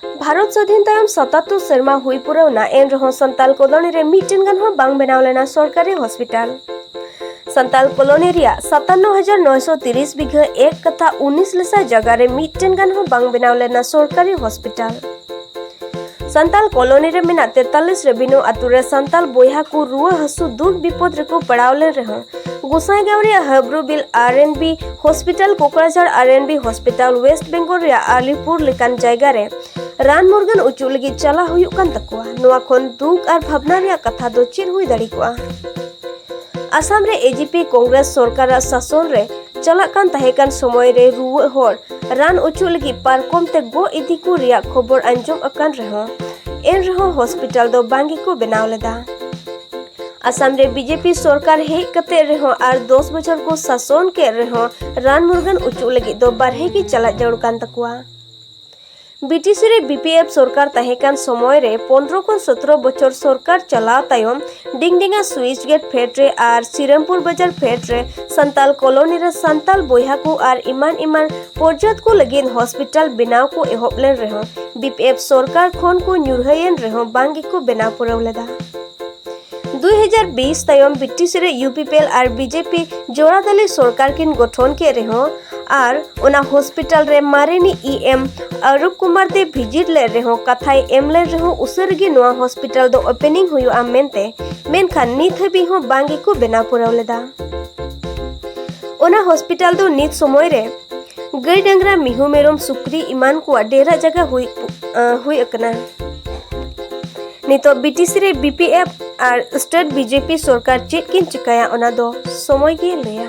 ᱵᱷᱟᱨᱚᱛ ᱥᱟᱹᱫᱷᱤᱱ ᱛᱟᱭᱚᱢ ᱥᱚᱛᱟᱛᱛᱳᱨ ᱥᱮᱨᱢᱟ ᱦᱩᱭ ᱯᱩᱨᱟᱹᱣᱱᱟ ᱮᱱ ᱨᱮᱦᱚᱸ ᱥᱟᱱᱛᱟᱞ ᱠᱚᱞᱚᱱᱤ ᱨᱮ ᱢᱤᱫᱴᱮᱱ ᱜᱟᱱ ᱦᱚᱸ ᱵᱟᱝ ᱵᱮᱱᱟᱣ ᱞᱮᱱᱟ ᱥᱚᱨᱠᱟᱨᱤ ᱦᱚᱥᱯᱤᱴᱟᱞ ᱥᱟᱱᱛᱟᱞ ᱠᱚᱞᱚᱱᱤ ᱨᱮᱭᱟᱜ ᱥᱟᱛᱟᱱᱱᱚ ᱦᱟᱡᱟᱨ ᱱᱚᱭᱥᱚ ᱛᱤᱨᱤᱥ ᱵᱤᱜᱷᱟᱹ ᱮᱠ ᱠᱟᱛᱷᱟ ᱩᱱᱤᱥ ᱞᱮᱥᱟ ᱡᱟᱭᱜᱟ ᱨᱮ ᱢᱤᱫᱴᱮᱱ ᱜᱟᱱ ᱦᱚᱸ ᱵᱟᱝ ᱵᱮᱱᱟᱣ ᱞᱮᱱᱟ ᱥᱚᱨᱠᱟᱨᱤ ᱦᱚᱥᱯᱤᱴᱟᱞ ᱥᱟᱱᱛᱟᱞ ᱠᱚᱞᱚᱱᱤ ᱨᱮ ᱢᱮᱱᱟᱜ ᱛᱮᱛᱟᱞᱤᱥ ᱨᱮᱵᱤᱱᱩ ᱟᱛᱳ ᱨᱮ ᱥᱟᱱᱛᱟᱞ ᱵᱚᱭᱦᱟ ᱠᱚ ᱨᱩᱣᱟᱹ ᱦᱟᱹᱥᱩ ᱫᱩᱠ ᱵᱤᱯᱚᱫ ᱨᱮᱠᱚ ᱯᱟᱲᱟᱣ ᱞᱮᱱ ᱨᱮᱦᱚᱸ ᱜᱳᱥᱟᱭᱜᱟᱸᱣ ᱨᱮᱭᱟᱜ ᱦᱟᱵᱨᱩᱵᱤᱞ ᱟᱨ ᱮᱱ ᱵᱤ ᱦᱚᱥᱯᱤᱴᱟᱞ ᱠᱳᱠᱨᱟᱡᱷᱟᱲ ᱟᱨ N B hospital West Bengal ᱨᱮᱭᱟᱜ ᱟᱞᱤᱯᱩᱨ ᱞᱮᱠᱟᱱ ᱡᱟᱭᱜᱟ ᱨᱮ ᱨᱟᱱ ᱢᱩᱨᱜᱟᱹᱱ ᱚᱪᱚᱜ ᱞᱟᱹᱜᱤᱫ ᱪᱟᱞᱟᱣ ᱦᱩᱭᱩᱜ ᱠᱟᱱ ᱛᱟᱠᱚᱣᱟ ᱱᱚᱣᱟ ᱠᱷᱚᱱ ᱫᱩᱠ ᱟᱨ ᱵᱷᱟᱵᱽᱱᱟ ᱨᱮᱭᱟᱜ ᱠᱟᱛᱷᱟ ᱫᱚ ᱪᱮᱫ ᱦᱩᱭ ᱫᱟᱲᱮ ᱠᱚᱜᱼᱟ ᱟᱥᱟᱢ ᱨᱮ ᱮᱡᱤᱯᱤ ᱠᱚᱝᱜᱨᱮᱥ ᱥᱚᱨᱠᱟᱨᱟᱜ ᱥᱟᱥᱚᱱ ᱨᱮ ᱪᱟᱞᱟᱜ ᱠᱟᱱ ᱛᱟᱦᱮᱸ ᱠᱟᱱ ᱥᱚᱢᱚᱭ ᱨᱮ ᱨᱩᱣᱟᱹᱜ ᱦᱚᱲ ᱨᱟᱱ ᱚᱪᱚᱜ ᱞᱟᱹᱜᱤᱫ ᱯᱟᱨᱠᱚᱢ ᱛᱮ ᱜᱚ ᱤᱫᱤ ᱠᱚ ᱨᱮᱭᱟᱜ ᱠᱷᱚᱵᱚᱨ ᱟᱸᱡᱚᱢ ᱟᱠᱟᱱ ᱨᱮᱦᱚᱸ ᱮᱱ ᱨᱮᱦᱚᱸ ᱦᱚᱥᱯᱤᱴᱟᱞ ᱫᱚ ᱵᱟᱝ ᱜᱮᱠᱚ ᱵᱮᱱᱟᱣ ᱞᱮᱫᱟ ᱟᱥᱟᱢ ᱨᱮ ᱵᱤᱡᱮᱯᱤ ᱥᱚᱨᱠᱟᱨ ᱦᱮᱡ ᱠᱟᱛᱮ ᱨᱮᱦᱚᱸ ᱟᱨ ᱫᱚᱥ ᱵᱚᱪᱷᱚᱨ ᱠᱚ ᱥᱟᱥᱚᱱ ᱠᱮᱫ ᱨᱮᱦᱚᱸ ᱨᱟᱱ ᱢᱩᱨᱜᱟᱹᱱ ᱚᱪᱚᱜ ᱞᱟᱹᱜᱤᱫ ᱫᱚ ᱵᱟᱨᱦᱮ ᱜᱮ ᱪᱟᱞᱟᱜ ᱡᱟᱹᱨᱩᱲ ᱠᱟᱱ ᱛᱟᱠᱚᱣᱟ ᱵᱤᱴᱤᱥᱤ ᱨᱮ ᱵᱤᱯᱤᱮᱯ ᱥᱚᱨᱠᱟᱨ ᱛᱟᱦᱮᱸ ᱠᱟᱱ ᱥᱚᱢᱚᱭ ᱨᱮ ᱯᱚᱱᱨᱚ ᱠᱷᱚᱱ ᱥᱚᱛᱨᱚ ᱵᱚᱪᱷᱚᱨ ᱥᱚᱨᱠᱟᱨ ᱪᱟᱞᱟᱣ ᱛᱟᱭᱚᱢ ᱰᱤᱝᱰᱤᱝᱟ ᱥᱩᱭᱤᱪ ᱜᱮᱴ ᱯᱷᱮᱰ ᱨᱮ ᱟᱨ ᱥᱤᱨᱟᱢᱯᱩᱨ ᱵᱟᱡᱟᱨ ᱯᱷᱮᱰ ᱨᱮ ᱥᱟᱱᱛᱟᱞ ᱠᱚᱞᱚᱱᱤ ᱨᱮ ᱥᱟᱱᱛᱟᱞ ᱵᱚᱭᱦᱟ ᱠᱚ ᱟᱨ ᱮᱢᱟᱱ ᱮᱢᱟᱱ ᱯᱚᱨᱡᱟᱛ ᱠᱚ ᱞᱟᱹᱜᱤᱫ ᱦᱚᱥᱯᱤᱴᱟᱞ ᱵᱮᱱᱟᱣ ᱠᱚ ᱮᱦᱚᱵ ᱞᱮᱱ ᱨᱮᱦᱚᱸ ᱵᱤᱯᱤᱮᱯ ᱥᱚᱨᱠᱟᱨ ᱠᱷᱚᱱ ᱠᱚ ᱧᱩᱨᱦᱟᱹᱭᱮᱱ ᱨᱮᱦᱚᱸ ᱵᱟᱝ ᱜᱮᱠᱚ ᱵᱮᱱᱟᱣ ᱯᱩᱨᱟᱹᱣ ᱞᱮᱫᱟ 2020 ᱛᱟᱭᱚᱢ ᱵᱨᱤᱴᱤᱥ ᱨᱮ ᱭᱩᱯᱤᱯᱤᱮᱞ ᱟᱨ ᱵᱤᱡᱮᱯᱤ ᱡᱚᱲᱟᱫᱟᱞᱤ ᱥᱚᱨᱠᱟᱨ ᱠᱤᱱ ᱜᱚᱴᱷᱚᱱ ᱠᱮᱫ ᱨᱮᱦᱚᱸ ᱟᱨ ᱚᱱᱟ ᱦᱚᱥᱯᱤᱴᱟᱞ ᱨᱮ ᱢᱟᱨᱮᱱᱤ ᱤ ᱮᱢ ᱟᱨᱩᱯ ᱠᱩᱢᱟᱨ ᱫᱮ ᱵᱷᱤᱡᱤᱴ ᱞᱮᱫ ᱨᱮᱦᱚᱸ ᱠᱟᱛᱷᱟᱭ ᱮᱢ ᱞᱮᱱ ᱨᱮᱦᱚᱸ ᱩᱥᱟᱹᱨ ᱜᱮ ᱱᱚᱣᱟ ᱦᱚᱥᱯᱤᱴᱟᱞ ᱫᱚ ᱳᱯᱮᱱᱤᱝ ᱦᱩᱭᱩᱜᱼᱟ ᱢᱮᱱᱛᱮ ᱢᱮᱱᱠᱷᱟᱱ ᱱᱤᱛ ᱦᱟᱹᱵᱤᱡ ᱦᱚᱸ ᱵᱟᱝ ᱜᱮᱠᱚ ᱵᱮᱱᱟᱣ ᱯᱩᱨᱟᱹᱣ ᱞᱮᱫᱟ ᱚᱱᱟ ᱦᱚᱥᱯᱤᱴᱟᱞ ᱫᱚ ᱱᱤᱛ ᱥᱚᱢᱚᱭ ᱨᱮ ᱜᱟᱹᱭ ᱰᱟᱝᱨᱟ ᱢᱤᱦᱩ ᱢᱮᱨᱚᱢ ᱥᱩᱠᱨᱤ ᱮᱢᱟᱱ ᱠᱚᱣᱟᱜ ᱰᱮᱨᱟ ᱡᱟᱭᱜᱟ ᱦᱩᱭ ᱦᱩᱭ ᱟᱠᱟᱱᱟ ᱱᱤᱛᱚᱜ ᱵᱤᱴᱤᱥᱤ ᱨᱮ ᱵᱤᱯᱤᱮᱯᱷ ᱟᱨ ᱥᱴᱮᱴ ᱵᱤᱡᱮᱯᱤ ᱥᱚᱨᱠᱟᱨ ᱪᱮᱫ ᱠᱤᱱ ᱪᱤᱠᱟᱹᱭᱟ ᱚᱱᱟ ᱫᱚ ᱥᱚᱢᱚᱭ ᱜᱮ ᱞᱟᱹᱭᱟ